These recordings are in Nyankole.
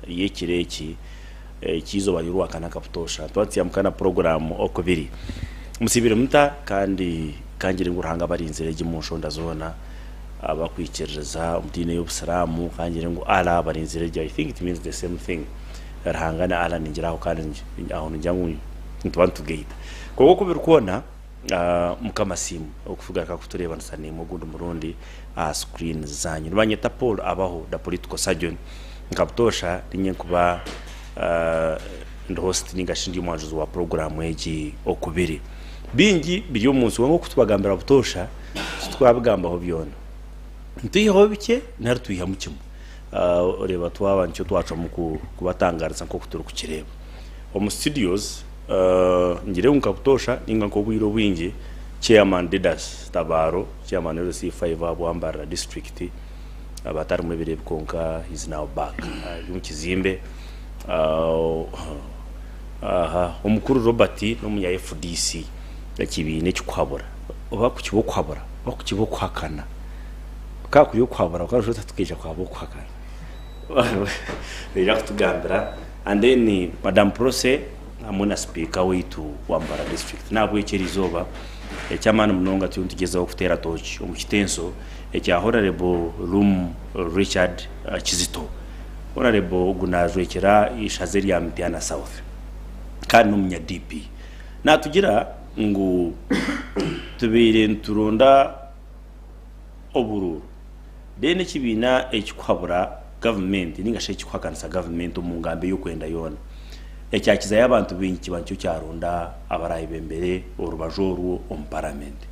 ry'ekiro eki eky'eizooba ry'Orwakana ka butoosha nituba nituyambuka na puroguraamu oku biri. Musiibire muta? Kandi kangire ngu Ruhanga abarinzire gye omu nshonda zoona, abakwikiririza omu diini ey'Obusiraamu kangire ngu Allah abarinzire gye. I think it means the same thing. Ruhanga ni Allah ningira aho kandi aho ningira ngu nituba nitugaita. Kwonka oku biri kwona, Mukama asiimwe okutugarukaho kutureebanisa naimwe ogundi murundi aha screen zaanyu. Nibanyeta Paul Abaho, the political surgeon. Nka butoosha ninye nkuba ndi host ninga shi ndi omwanjuzi wa puroguraamu egi okubiri. Bingi biri omu nsi kwonka okutubagambira butoosha titwabigambaho byona. Nitwihaho bikye nari twihamu kimwe. Oreeba twaba nikyo twacwamu kubatangaariza nk'oku turikukireeba omu studios. Ngire ngu nka butoosha ninga nka obwire obwingi Chairman Didas Tabaaro, Chairman LC e five aha Bwambarara District aba atarimu ebiro ebi kwonka he is now back ari omu kizimbe. Omukuru Robert n'omunya fdc ekibiina ekikuhabura oba kukiba okuhabura oba kukiba okuhakana. Kukaba kuri okuhabura konka noshusha oti hati tukeija kuhaba okuhakana. Naija kutugambira and then madam prossy hamwe na sipiika waitu wa Mbarara district nahabwekyo eri izooba ekyamaani munonga turiyo nitugyezaho kuteera tooki omu kitenso ekya honourable Rum Richard Kizito honourable ogu najwekyera eishaza erya Mityana south kandi n'omunya DP natugira ngu tubaire nituronda oburuuru then ekibiina ekikuhabura gavumenti ninga shi ekikuhakanisa gavumenti omu ngambo ey'okwenda yoona ekyakizayo abantu baingi kiba nikyo kyaronda abarayebembere orubaju orwo omu paramenti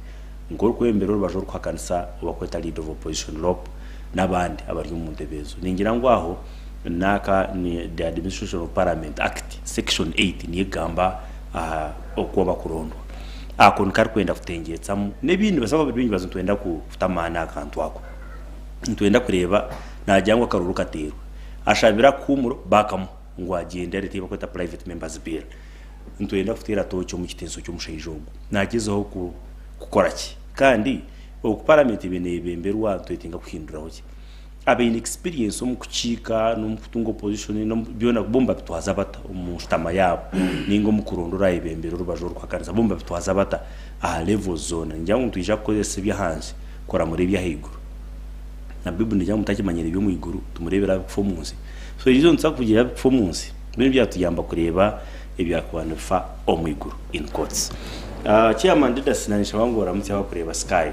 nk'orikwebembera orubaju orukuhakanisa owakweta leader of opposition lop n'abandi abari omu ntebe ezo ningira ngu aho n'aka ni the administration of parliament act section 8 niyo ekugamba aha oku bakurondwa Ako nikarikwenda kutengyeetsamu n'ebindi. Nibaasa kuba bari baingi baza nitwenda kuta amaani aha kantu ako. Nitwenda kureeba naagira ngu akaruuru kateerwe. Ashabire akahuumuro baakamuha ngu agyende areete ei barikweta Private Member's Bill. Nitwenda kuteera tooki omu kiteeso ky'omushaija ogu. Naagyezaho kukora ki? Kandi oku Paramenti eriyo neebemberwa nitwetenga kuhinduraho ki? Abaine experience omu kukiika n'omu kutunga opposition n'omu byona bo nibabitwaza bata omu nshutama yaabo ninga omu kuronda orayebembera orubaju oru kuhakanisa bo nibabitwaza bata aha levels zoona ningira ngu nitwija kukozesa ebyahansi kuramura ebyahaiguru na bible negira ngu mutakimanyire eby'omu iguru tumurebera ahabi kufa omu nsi so eriizooba nituza kugira ahabi kufa omu nsi byo nibyatuyamba kureeba ebyakuba nibifa omu iguru in quotes. Chairman Didas nanye nshaba ngu oramutse abakureeba sky.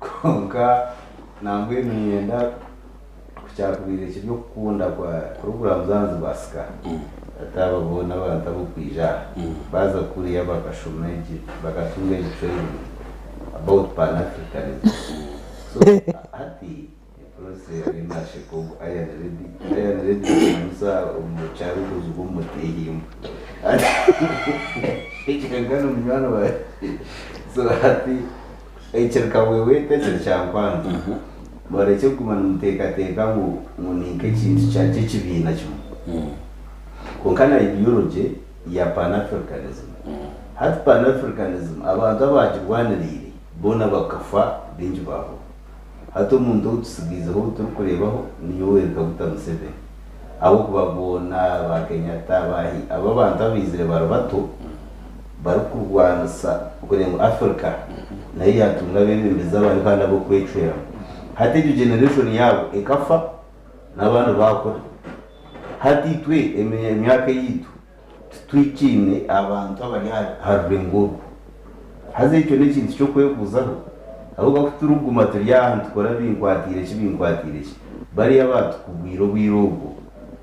Kwonka nambwenu niinyenda ku kyakubaire kiri okukunda kwa puroguraamu z'ahansi baasika hati aba boona abantu ab'okwija aha baaza kuriya bakashoma egi bakatunga egi training about pan Africanism so hati Etorsi yari nasheka ogu iron lady. Iron lady nikimanyisa omucarukuzi w'omutehimba. Munywani wawe so hati ekiri kabwebweta ekiri kyankwanzi barekye kuguma nimutekateka ngu ni nk'ekintu kya ky'ekibiina kimwe. Kwonka na ideology ya Pan Africanism. Hati Pan Africanism abantu abagirwaniriire boona bakafa baingi baahwaho. Hati omuntu ou tutsigaaizeho ou turikureebaho ni Yoweri Kaguta Museveni ahabw'okuba boona ba Kenyatta, abaahi, abo abantu abaizire bari bato barikurwanisa kugira ngu Africa nayo yaatunga abeebembezi abari hare ab'okwecweramu. Hati egyo generation yaabo ekafa n'abandi baakura. Hati itwe emyaka yaitu. Titwikaine abantu abari aha rurengo orwo. Haza ekyo n'ekintu ky'okwebuuzaho, ahabw'okuba ku turikuguma turi aha nitukora binkwatiire ki binkwatiire ki, bariya abaatukugwire obwire obwo,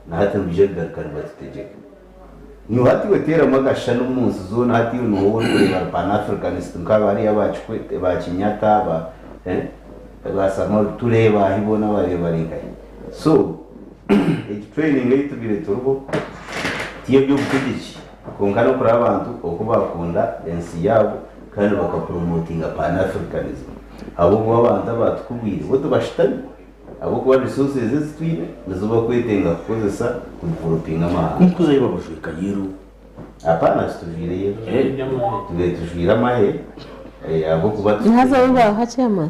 na hati nibaija kugaruka nibatutegyeka. Nyowe hati iwe teeramu akashushani omu nsi zoona, hati iwe nooha ou orikureeba ari Pan-Africanist nka bariya aba Kikwete, ba Kenyatta, ba, eh, ba Samaru, tureeba ahi boona waareeba bari nkahi? So. Egi training ei tubaire turiho ti y'eby'obutegyeki kwonka n'okureba abantu oku baakunda ensi yaabo kandi baka promotinga Pan Africanism ahabw'okuba abantu abaatukubwire bo tibashutami ahabw'okuba resources ezi twine nizo bakwetenga kukozesa ku developinga amahanga. Nikuzayo babajweka yellow? Apana titujwaire yellow, tubaire tujwaire amahe ahabw'okuba Nihazayo baaha chairman?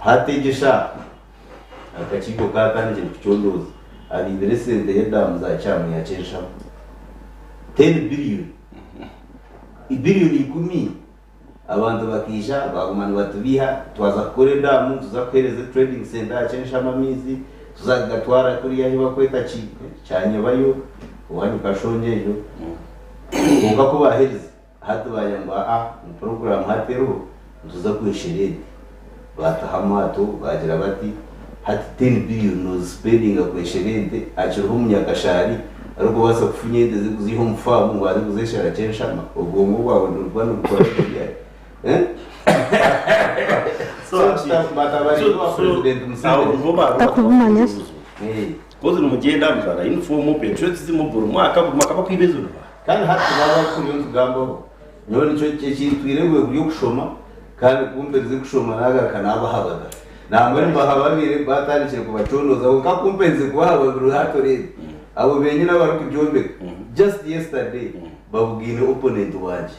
Hati egyo eshaaha akakiiko ka Carnegie nikucondooza abaibire esente y'edaamu za Kyamwiha ky'enshaho ten billion, eibiriyoni ikumi, abantu bakaija baaguma nibatubeiha twaza kukora edaamu tuza kuheereza trading centre aha ky'enshamu amaizi tuza kugatwara kuriya ahu barikweta ki Kyanyebayo owaanyu Kashongye egyo kwonka ku baaherize Hati baanye ngu aa, ngu puroguraamu hati eriho, nituza kweshera ente. Baataho amaato, baagira bati, Hati ten billion noozisipendinga kweshera ente, akiriho omunyakashaari arikubaasa kufunya ente ze kuziiha omu faamu ngu aze kuzeeshera kye nshama? Obwongo bwawe nibuguma nibukora gye ryari? Eeh? Batabaringa owa Purezidenti Museveni. Takubumanya shi? Eeh. Kozi nimugyenda mujwara yunifoomu, peeturo ekizimu, buri mwaka buri mwaka bakwiba ezinu. Kandi hati tibaba barikuhurira nitugambaho. Nyowe nikyo ekintwire bwe buryo kushoma, kandi ku mperize kushoma naagaruka naabahababira. Nangwa nimbahababire baatandikire kubacondooza kwonka ku mperize kubahababira hati oreebe abo beenyini abarikugyombeka. Just yesterday babugaine opponent wangye.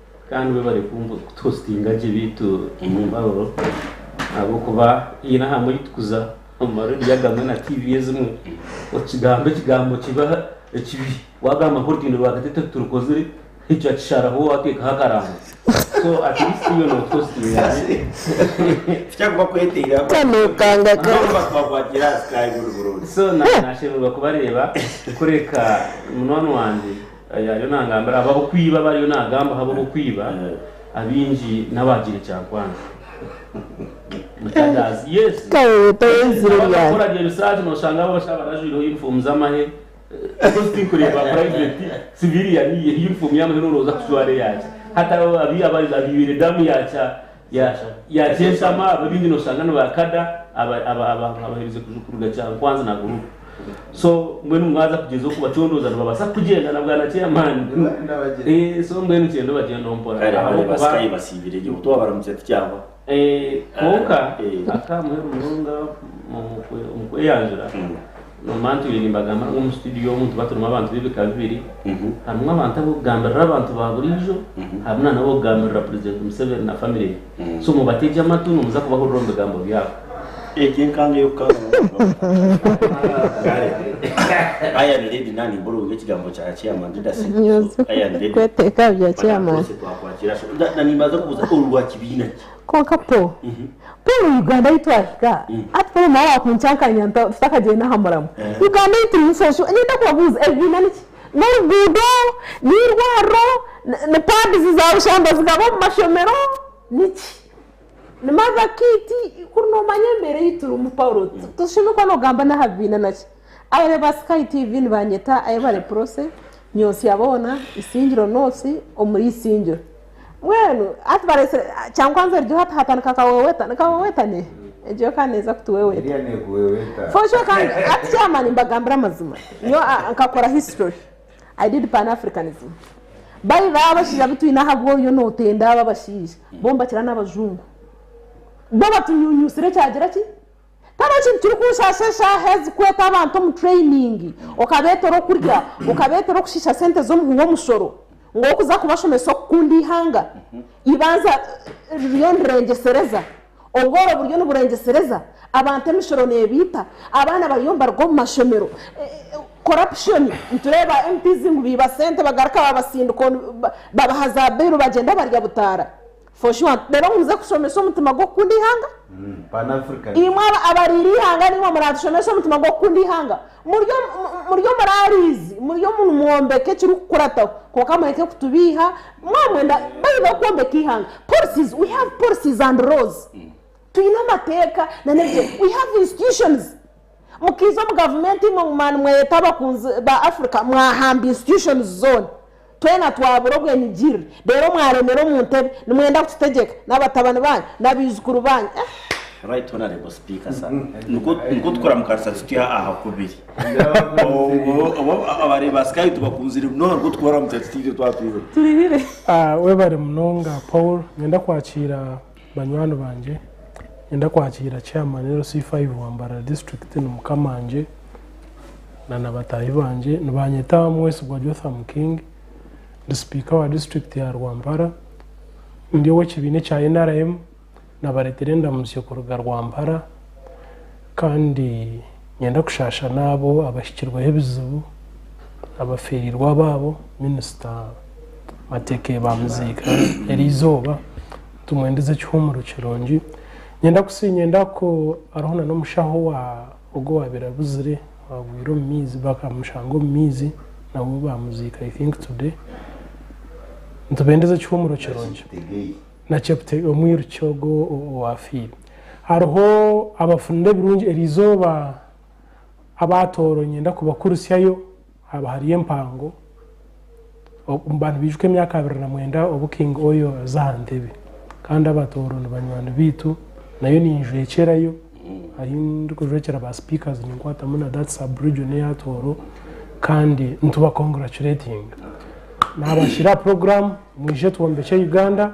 Kandi webare kutuhositinga gye beitu omumbabarro ahabwokuba haine ahamwe orikutukuza omu marediyo agamwe na TV ezimwe okigamba ekigambo kibi ekibi wagamba ngu orutindo rwagati tirukozire ekyo akisharaho watekaho akarango so at least iwe notuhositinga gye tikyakuba kweteiraho Kanokanga ka. Nabo bakubakwatira aha sky buri burungi. so na- nashemererwa kubareeba kureka munwani wangye Eeh ariyo nangambira abo abokwiba abo ariyo nagamba habo bokwiba abingi nabagire ekyankwanzi mutadazi yes nabo abakora rye research noshanga abo bashaba barajwireho uniform zamahe coz tinkureba private civilian ye uniform yamahe norowooza kujwara eyaki hati abo abibire damu yakya Yaatsya yaatsya enshama, abo ebindi noshanga ni ba kada aba aba abaheerize kuju kuruga Kyankwanzi na Guluupu. So mbwenu mwaza kugyezaho kubacondooza nibabaasa kugyenda na bwana Chairman. Eeh so mbwenu kyende obagyendeho mpora Kare abareba ahabw'okuba sikaye basiibire gye buto wabaramukira tikyahwa. Eeh kwonka Eh. akaamuheru munonga omu kwe omu kweyanjura Omu bantu baine nibagamba ngu omu situdiyo omu tuba turimu abantu b'ebika bibiri. Harimu abantu ab'okugambirira abantu ba buriijo, harimu nana ab'okugambirira Purezidenti Museveni na famire ye. So mubategye amatu nimuza kubahurira omu bigambo byabo. Egi enkanga ey'okukanga abantu. Kwonka Paul Paul Uganda ahi twahika hati Paul nawe wakuncankaanya nta tutakagyenda aha muramwa Eh. Uganda ei turimu so sure niinda kubabuuza ebibiina niki n'oruguudo n'eirwariro ni- ni pads za bushamba zigaba omu mashomero niki ni mother kit kuri noomanya embeera ei turimu Paul ti- toshemereire kuba noogamba n'aha bibiina naki Abare ba Sky TV nibanyeta Ayebare Prossy nyonsya boona Isingiro North omuri Isingiro Mbwenu hati barese kya kwanza erijo hati hata nikakaweweta nikaweweta ne egyo yo kandi neza kutuweweta Eria nekuweweta. for sure kandi hati chairman mbagambira amazima nyowe ah, nkakora history I did pan Africanism by the abashaija bitwine ahabwo oriyo notenda abo abashaija bo nibakira nabajungu bo batunyunyusire kyagira ki Tihariho kintu kirikunshasha eshaaha ezi kweeta abantu omu training okabeeta or'okurya, okabeeta or'okushiisha sente z'omuhwi w'omushoro ngu orikuza kubashomesa okukunda eihanga. Eibanza ririyo nirengyesereza, obworo buriyo niburengyesereza, abantu emishoro neebaita, abaana bariyo nibaruga omu mashomero, corruption, nitureeba ba MPs ngu baiba sente bagaruka babatsindika babaha za bail bagyenda barya butaara. For sure reero muze kushomesa omutima gw'okukunda eihanga. Pan African. Imwe aba abariira eihanga nimwe muraatushomesa omutima gw'okukunda eihanga. Muryo mu muryo muraariizi muryo mu nimwombeka ekirikukurataho kwonka mureke kutubiiha mwamwenda by the way kwombeka eihanga policies we have policies and laws twine amateeka na n'ebigyere we have institutions. Mukiiza omu gavumenti imwe ngu mani mweyeta abakunzi ba Africa mwahamba institutions zoona twena twabura obwenigirire reero mwaremera omu ntebe nimwenda kututegyeka nabatabani banyu nabaijukuru banyu eeh. Right honourable speaker sir nikwo nikwo tukuramukanisa tutya aha kubiri obwo abareeba ba sky tubakunzire munonga nikwo tukubaramukya tutya itwe twaba twine omu. Webare munonga Paul, ninyenda kwakiira. Banywani bangye, niinyenda kwakiira Chairman LC5 wa Mbarara District ni mukamangye na na bataahi bangye. Nibanyeta Mwesigwa Jotham King. Ndi Sipiika wa District ya Rwampara. Ndi ow'ekibiina ekya nrm. Nabareetera endamutsyo kuruga Rwampara kandi niinyenda kushaasha n'abo abahikirweho ebizibu, abafeereirwe abaabo, Minisita Mateke baamiziika eri eizooba. Tumwe ndize ekihumuro kirungi. Nyenda kusi nyenda ku aroho na nomushaho wa ogu owabire abuzire wagwire omu maizi bakamushanga omu maizi na we bamuziika i think today. Nitube ndize ekihumuro kirungi. Na Cheptegei omwiruki ogu owafiire. Haroho abafunire ebirungi eri izooba abaatooro nyenda kubakurutsyayo. Haba hariyo empango omu bantu baijuka emyaka abiri na mwenda obu King Oyo aza aha ntebe kandi aba Tooro ni banywani baitu nayo ninjwekyerayo ahu ndikujwekyera ba speakers ninkwatamu na that sub region eya Tooro kandi nituba congratulatinga. Nabashira aha program mwije twombekye Uganda.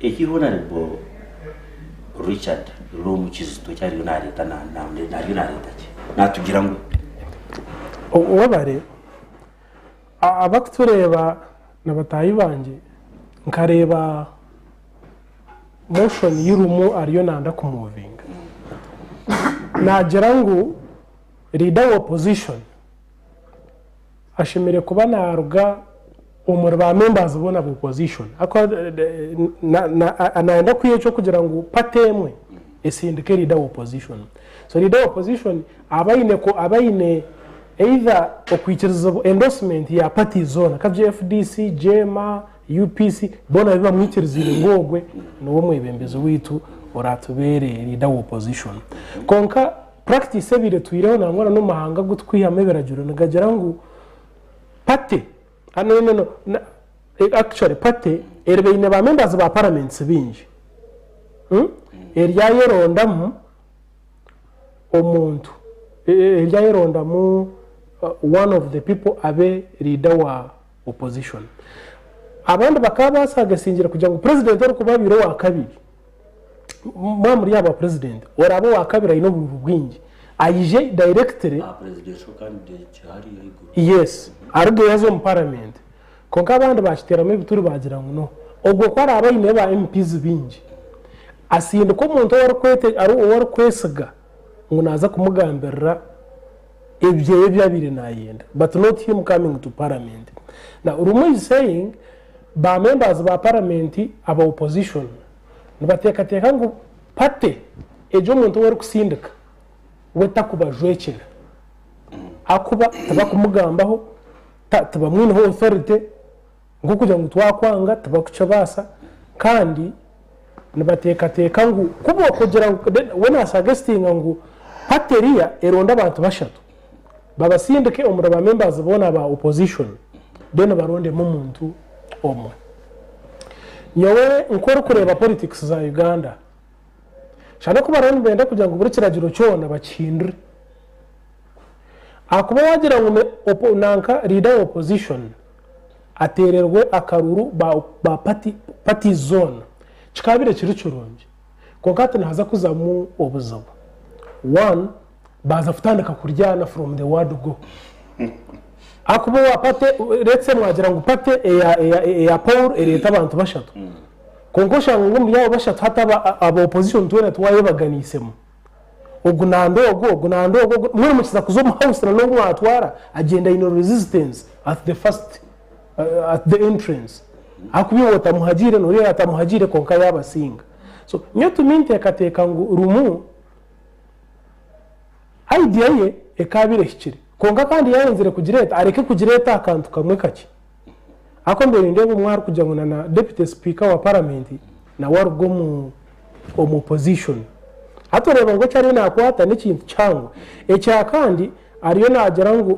Eki Honarebo Richard Lom Kizito eki ariyo nareeta ariyo nareeta ki? Natugira ngu. Webare. Abarikutureeba na bataahi bangye, nkareeba motion yi Lumu ariyo nanda ku movinga. Nagira ngu leader wa opposition. ashemereire kuba naaruga omuri ba members boona ba opposition nayenda kwiha ekyokugira ngu party emwe esindike leader wa opposition so leader wa opposition aba aine either okwikirizibwa endorsement ya party zoona kabgye fdc, jeema, UPC boona babe bamwikiriziire ngu ogwe niwe omwebembezi waitu oratubeere leader wa opposition kwonka Practice ebaire etwireho nangwa na n'omu mahanga agu turikwihamu ebiragiro nigagira ngu party no no no actually party eriba eine ba members ba paraments baingi eryayo erondamu omuntu eryayo erondamu one of the people abe leader wa opposition abandi bakaba basagesingire kugira ngu president orikuba abeire owa kabiri. mwaba muri aba president oraba owakabiri aine obububi bwingi aije directly aha presidential candidate hariya ahaiguru yes aruga eyi aza omu parliament kwonka abandi bakiteramu ebituri bagira ngu no ogwo ku araba aine ba MPs bingi asindika omuntu owu arikwete ari owu arikwesiga ngu naza kumugambirira ebyeye ebi abire nayenda but not him coming to parliament now rumwe is saying Ba members ba paramenti aba opposition nibateekateeka ngu party egi omuntu ou erikutsindika we takubajwekyera ahakuba tibakumugambaho, tibamwineho authority nk'okugira ngu twakwanga tibakukibaasa kandi nibateekateeka ngu ku bookugira ngu, we naasagesitinga ngu party eriya eronde abantu bashatu. Babasindike omuri ba members boona ba opposition then barondemu omuntu omwe. Nyowe nkorikureeba politics za Uganda shana ku bariyo nibenda kugira ngu buri kiragiro kyona bakihindure ahakuba wagira ngu ni nanka leader wa opposition atererwe akaruru ba parties zoona kikabire kiri kirungi. Kwonka hati nihaza kuzamu obuzibu. One, baaza kutandika kuryana from the word go. Ahakuba owa party, let's say mwagira ngu party eya Paul ereeta abantu bashatu. Kwonka oshanga ngu omuri abo bashatu hati aba opposition twena tiwayebaganiisemu. ogu nande ogu, ogu nande ogu, ogu, mbwenu mukiza kuza omu house na n'ogu mwatwara agyenda aine resistance at the first, eh, at the entrance ahakuba iwe otamuhagiire n'ori ogu atamuhagiire kwonka yabasinga. So nyowe to me nteekateeka ngu Lumu idea ye ekaabaire ehikire kwonka kandi yaayenzire kugireeta areke kugireeta aha kantu kamwe kakye. Ahakuba mbaire nindeeba omwe arikugira ngu na deputy speaker wa paramenti nawe aruga omu omu opposition. Hati oreeba ngu eki ariyo nakwata n'ekintu kihango. Ekyakandi ariyo nagira ngu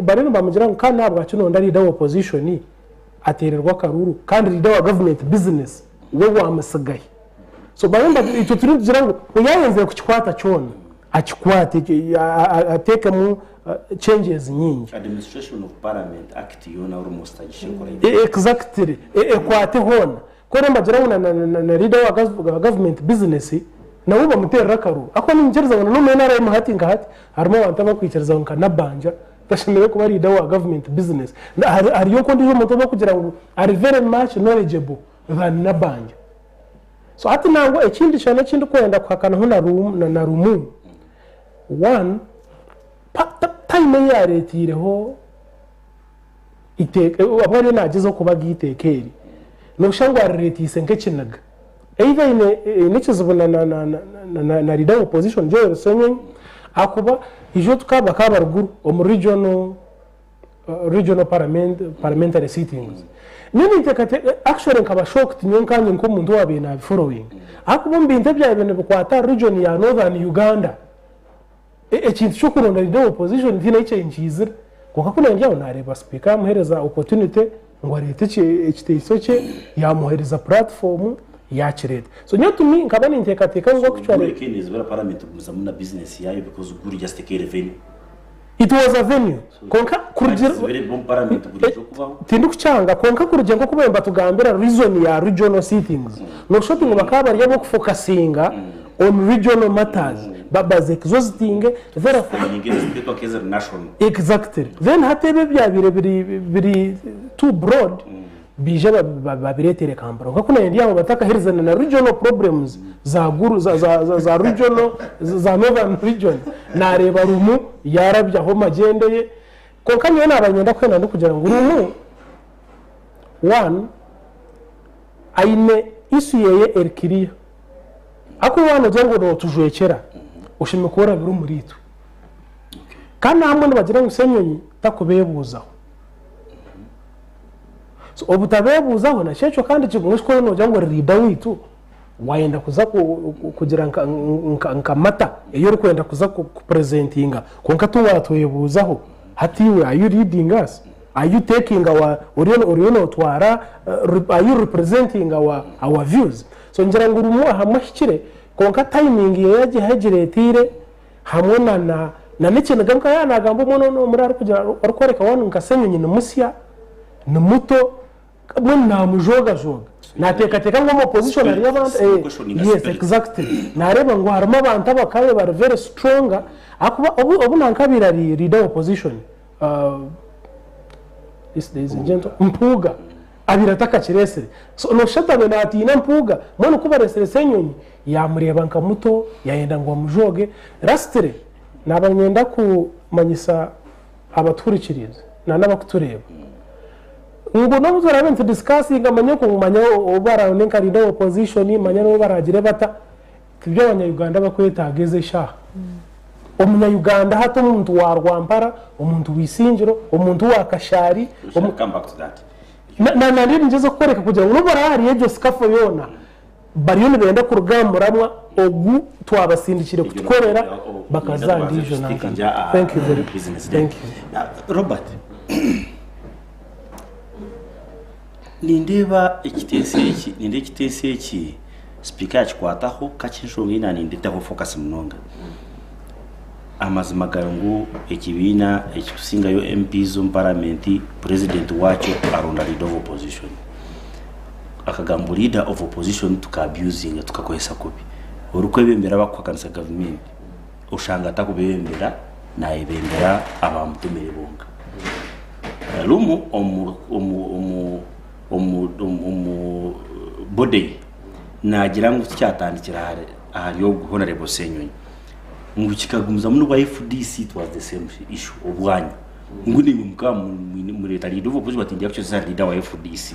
bariyo nibamugira ngu kandi nahabwaki noronda leader wa opposition atererwe akaruru kandi leader wa government business we waamutsigayo. So bamwe nibatu- itwe turiyo nitugira ngu we yaayenzire kukikwata kyona akikwate ekyo, a- a- ateekemu eh, changes nyingi Administration of Parliament Act yoona orimo zitagisha ekora E- ibyo. exactly E- ekwate hoona ku rero mbagira ngu na- na- na- na leader wa gov- wa government business nawe bamuteerera akaruru akuba ninyikiriza ngu na n'omu nrm hati nka hati harimu abantu abakwikiriza ngu nka nabanja Tashemereire kuba leader wa government business. Haryoka ondijo muntu owokugira ngu ari very much knowledgeable than Nabanja. So hati nangwa ekindi kyona ekindikwenda kuhakanaho na Lumu, one, time eyi yaretireho iteka, obu ariyo nagyezaho kubaga iteka eri, noshanga ariretiise nkekiniga. either eine eine ekizibu na na na na na leader wa opposition Joel Senyonyi ahakuba ishwe tuka bakaba bari guru omu regional regional parliament parliamentary sittings nyowe nintekateka actually nkaba shocked nyowe nkanye nk'omuntu owabaire nabifollowinga ahakuba omu bintu ebyabaire nibikwata aha region ya northern Uganda Ekintu kyokuronda leader wa opposition tihaine ahu kyaingiizire kwonka ku naagira ngu naareeba sipiika yaamuheereza opportunity ngu areete ekiteeso kye yaamuheereza platform yaakireeta. So nyowe to me nkaba ninteekateeka ngu actually. It was a venue. Kwonka kurugiirira Abagizi b'erebi b'omu paramenti burijo kubaho. Tindikukyanga, kwonka kurugiirira nk'oku baba nibatugambira reason ya regional sittings, noshusha oti ngu bakaba bari ab'okufokasinga on regional matters, ba budget zo zitinge, therefore Ninga enteekateeko nk'eziri national. Exactly. Then hati ebi ebyabaire biri biri too broad, Baija babireetere Kampala. Kwonka ku naayendire aho batakaherizana na regional problems za Gulu, za, za, za, za regional, za Northern region, naareeba Lumu yaarabyaho omu magyendo ye. Kwonka nyowe naaba niinyenda kwenda ndikugira ngu Lumu, one, aine issue yeeye eri clear. Hakuba waaba noogira ngu nootujwekyera, oshemereire kuba orabire omuriitwe. Kandi na bamwe nibagira ngu Ssenyonyi takubeebuuzaho. So obutabebuuzaho naki ekyo kandi kiguma noshi kwoine nogira ngu ori leader waitu wayenda kuza kugira nka mata eyi orikwenda kuza kupresentinga kwonka tiwatwebuuzaho hati iwe are you leading us are you taking our oriyo notwara uh, are you representing our, our views so ngira ngu rumu ahamwe ahikire kwonka timing ye yagiha egiretiire hamwe na n'ekiniga nka yaaba naagamba omwana ou n'omuri arikworeka waanu nka Ssenyonyi ni musya, ni muto, mbwenu naamujoogajooga. Naateekateeka ngu omu opposition hariyo abantu, yes exactly, naareeba ngu harimu abantu abakaabaire bari very strong ahakuba obu naakaabaire ari leader wa opposition, Mpuuga, abaire atakakireetsire. So nooshusha atabire naatiina mpuuga. Mbwenu ku bareetsire Ssenyonyi, yaamureeba nka muto, yaayenda ngu amujooge. Lastly, naaba nyenda kumanyisa abatuhurikiriize na n'abakutureeba ngu n'obu turaabe nitudisikasinga manya ku manya obu baraawunde nka Leader wa Opposition, manya n'obu baraagire bata, Tibi abanyayuganda abakwetaaga ezi eshaaha. Omunyayuganda hati omuntu wa Rwampara, omuntu wa Isingiro, omuntu wa Kashaari, na nari ningyeza kukworeka kugira ngu n'obu baraba ahari egyo sikafo yoona bariyo nibenda kuruga aha muramwa ogu twabasindikire kutukorera bakaza aha ndiijo nankano. Nindeeba ekiteeso eki nindeeba ekiteeso eki sipiika yaakikwataho ku hati enshonga ei naanindetaho fokasi munonga. Amazima gari ngu ekibiina ekitusingayo MPs omu paramenti purezidenti waakyo aronda leader of opposition. Akagambo leader of opposition tuka abusinga tukakoresa kubi orikwebembera abarikuhakanisa gavumenti. Oshanga takubebembera, nayebembera abamutumire bonka. Rumu omu body ye nagira ngu tikyatandikire ahari ogu Honorable Senyonyi ngu kikagumizamu nobu fdc it was the same issue obwanyu ngu nimwe mukaba mureta leader of opposition but ndi actually leader wa fdc.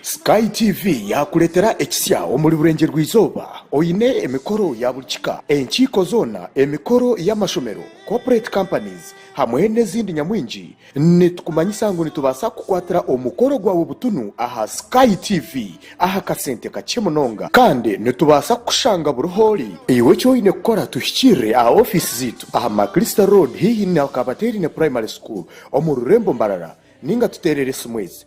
Sky TV yaakureetera ekisya omuri Burengye-rwa-Izooba oine emikoro ya buri kika, enkiiko zoona, emikoro y'amashomero, corporate companies hamwe n'ezindi nyamwingi. Nitukumanyisa ngu nitubaasa kukwatira omukoro gwawe butunu aha Sky TV aha kasente kakye munonga. Kandi nitubaasa kukushanga buri ahu ori. Iwe eki oine kukora tuhikirire aha ofiisi zaitu aha Maclister Road haihi na Kabateerine Primary School omu rurembo Mbarara nainga tuteerere esimu ezi.